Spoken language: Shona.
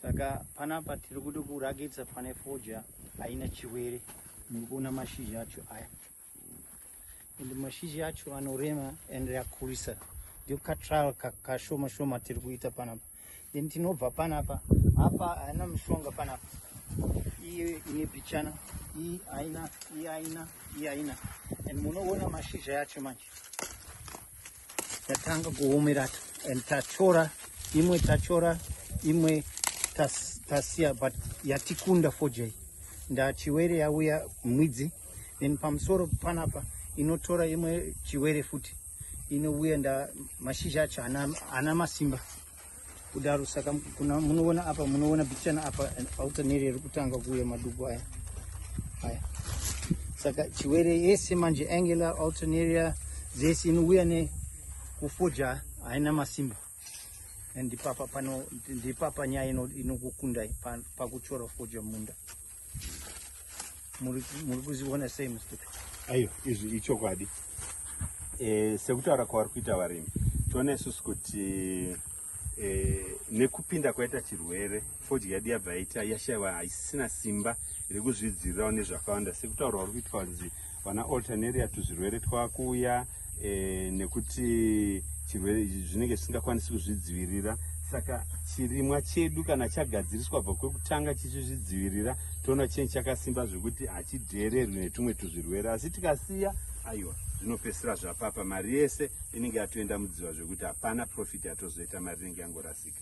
saka panapa tiri kuda kurakidza pane foja haina chiwere nekuona mashizha acho aya and mashizha acho anorema and akurisa ndio katrial kashoma shoma tiri kuita panapa then tinobva panapa apa haina mushonga panapa iye ine pichana iyi haina iyi haina iyi haina and munoona mashizha yacho manje tatanga kuomera and tachora imwe tachora imwe tasiya but yatikunda fojai ndachiwere yauya mwidzi then pamusoro panapa inotora imwe chiwere futi inouya nda mashizha acho ana masimba kudaro saka kuna munoona apa munoona bichana apa auta neri iri kutanga kuuya maduku aya aya saka chiwere yese manje angular alternaria dzese inouya ne kufoja haina masimba ndipapa pano ndipapa nyaya inokukundai pakuchora foja munda muri kuzviona sei mustupi aiyo izvi ichokwadi e, sekutaura kwavari kuita varimi toona isusu kuti e, nekupinda kwaita chirwere fodya yedu yabva yaita yashaiwa haisisina simba rekuzvidzirirawo nezvakawanda sekutaura vari kuitwa kunzi vana alternaria tuzvirwere twakuuya e, nekuti chirwere zvinenge zvisingakwanisi kuzvidzivirira saka chirimwa chedu kana chagadziriswa bva kwekutanga chichizvidzivirira toona chinhu chakasimba zvekuti hachidheererwi netumwe tuzvirwere asi tikasiya aiwa zvinopesira zvapapa mari yese inenge yatoenda mudziva zvekuti hapana profit yatozoita mari inenge yangorasika